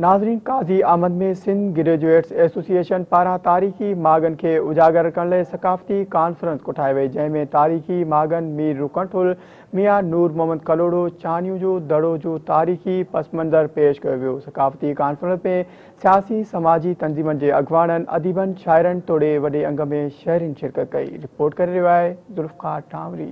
ناظرين Qazi Ahmed ۾ Sindh graduates association پاران تاريخي ماڳن کي اجاگر ڪرڻ لئي ثقافتي ڪانفرنس ڪوٺائي وئي جنهن ۾ تاريخي ماڳن مير رڪن ٺل ميان نور محمد ڪلهوڙو چانيون جو دڙو جو تاريخي پس منظر پيش ڪيو ويو ثقافتي ڪانفرنس ۾ سياسي سماجي تنظيمن جي اڳواڻن اديبن شاعرن توڙي وڏي انگ ۾ شهرين شرڪت ڪئي رپورٽ ڪري رهيو آهي ذوالفقار ٽانوري.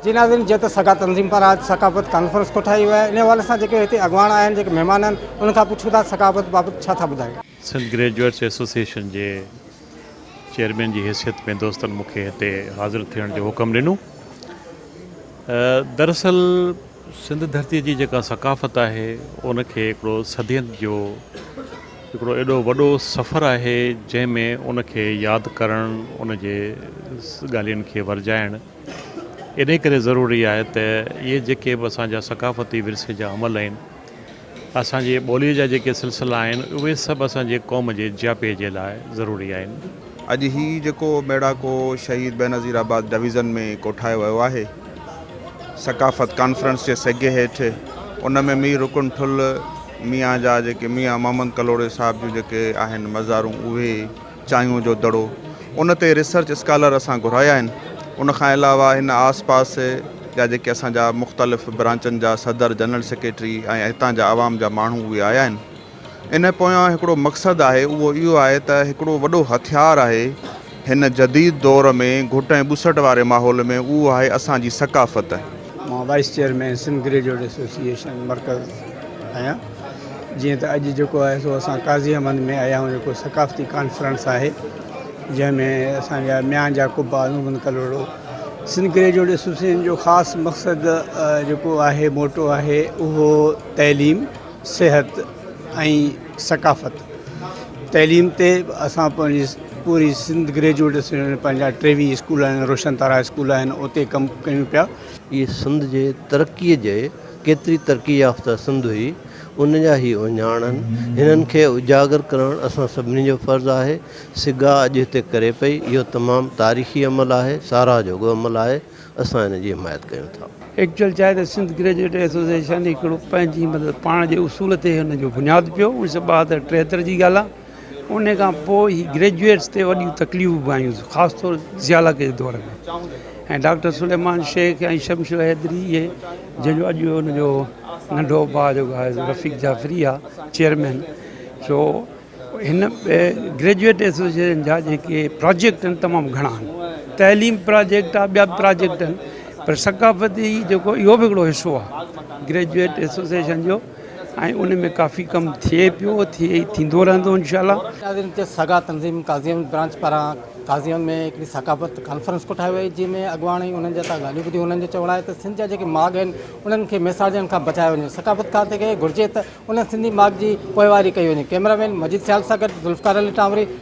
جي ناظرين جيئن ته سگا تنظيم پاران اڄ ثقافت ڪانفرنس ڪوٺائي وئي آهي ان حوالي سان جيڪي هتي اڳواڻ آيا آهن جيڪي مهمان آهن انهن کان پڇون ٿا ثقافت بابت ڇا ٿا ٻڌائين. سنڌ گريجوئيٽس ايسوسيئيشن جي چيئرمين جي حيثيت ۾ دوستن مون کي هتي حاضر ٿيڻ جو حڪم ڏنو. دراصل سنڌ ڌرتي جي جيڪا ثقافت آهي ان کي هڪڙو صدين جو هڪڙو ايڏو وڏو سفر آهي جنهن ۾ ان کي ياد ڪرڻ ان جي ڳالهين کي ورجائڻ انهيء ڪري ضروري آهي ته اهي جيڪي به اسان جا ثقافتي ورثي جا عمل آهن، اسان جي ٻوليء جا جيڪي سلسلا آهن، اهي سڀ اسان جي قوم جي جياپي جي لاء ضروري آهن. اڄ هي جيڪو ميڙاڪو شهيد بينظير آباد ڊويزن ۾ ڪوٺايو ويو آهي، ثقافت ڪانفرنس جي سگهي هيٺ، ان ۾ مير رڪن ٺل ميان جا جيڪي ميان محمد ڪلهوڙي صاحب جون جيڪي آهن مزارون، اهي. چانهيون جو دڙو ان تي ريسرچ اسڪالر اسان گهرايا آهن ان کان علاوه هن آس پاس جا جيڪي اسان جا مختلف برانچن جا صدر جنرل سيڪريٽري ۽ هتان جا عوام جا ماڻهو اهي آيا آهن ان پويان هڪڙو مقصد آهي اهو اهو آهي ته هڪڙو وڏو هٿيار آهي هن جديد دور ۾ گهٽ ۽ ٻسٽ واري ماحول ۾ اهو آهي اسان جي ثقافت. مان vice chairman Sindh graduate association مرڪز آهيان. جيئن ته اڄ جيڪو آهي سو اسان قاضي احمد ۾ آيا آهيون جيڪو ثقافتي ڪانفرنس آهي جنهن ۾ اسان جا ميان جا قبا عظمالدين ڪلهوڙو سنڌ گريجوئيٽ ايسوسيئيشن جو خاص مقصد جيڪو آهي موٽو آهي اهو تعليم صحت ۽ ثقافت تعليم تي اسان پنهنجي پوري سنڌ گريجوئيٽ ايسوسيئيشن پنهنجا ٽيوي اسڪول آهن روشن تارا اسڪول آهن اتي ڪم ڪيون پيا ۽ سنڌ جي ترقي جي ڪيتري ترقي يافته سنڌ هئي، ان جا هي اهڃاڻن، هنن کي اجاگر ڪرڻ اسان سڀني جو فرض آهي. سگا اڄ هتي ڪري پئي، اهو تمام تاريخي عمل آهي، ساراهه جوڳو عمل آهي، اسان ان جي حمايت ڪيون ٿا. ايڪچوئل چاهي ته سنڌ گريجوئيٽ ايسوسيئيشن هڪڙو پنهنجي مطلب پاڻ جي اصول تي هن جو بنياد پيو، اوڻيهه سؤ ٻاهتر ٽيهتر جي ڳالهه آهي. ان کان پوء هي گريجوئيٽس تي وڏيون تڪليفون به آيون خاص طور زياله ڪي دور ۾ ۽ ڊاڪٽر سليمان شيخ ۽ شمشير حيدري اهي جنهن جو اڄ ان جو ننڍو ڀاء جيڪو آهي سو رفيق جعفري آ چيئرمين سو هن گريجوئيٽ ايسوسيئيشن جا جيڪي پراجيڪٽ آهن تمام گهڻا آهن تعليم پراجيڪٽ آ ٻيا به پراجيڪٽ آهن پر ثقافتي جيڪو اهو به هڪڙو حصو آ گريجوئيٽ ايسوسيئيشن جو ۽ ان ۾ ڪافي ڪم ٿئي پيو ٿئي ۽ ٿيندو رهندو انشاء الله. قاضين تي سگا تنظيم قاضين برانچ پاران قاضين ۾ هڪڙي ثقافت ڪانفرنس ڪوٺائي وئي جنهن ۾ اڳواڻن انهن جا ڳالهيون ٻڌيون انهن جو چوڻ آهي ته سنڌ جا جيڪي ماڳ آهن انهن کي ميساجن کان بچايو وڃي ثقافتڪار کي گهرجي ته انهن سنڌي ماڳ جي پوئواري ڪئي وڃي ڪئميرا مين مجيد سيال سان گڏ ذوالفقار علي ٽانوري.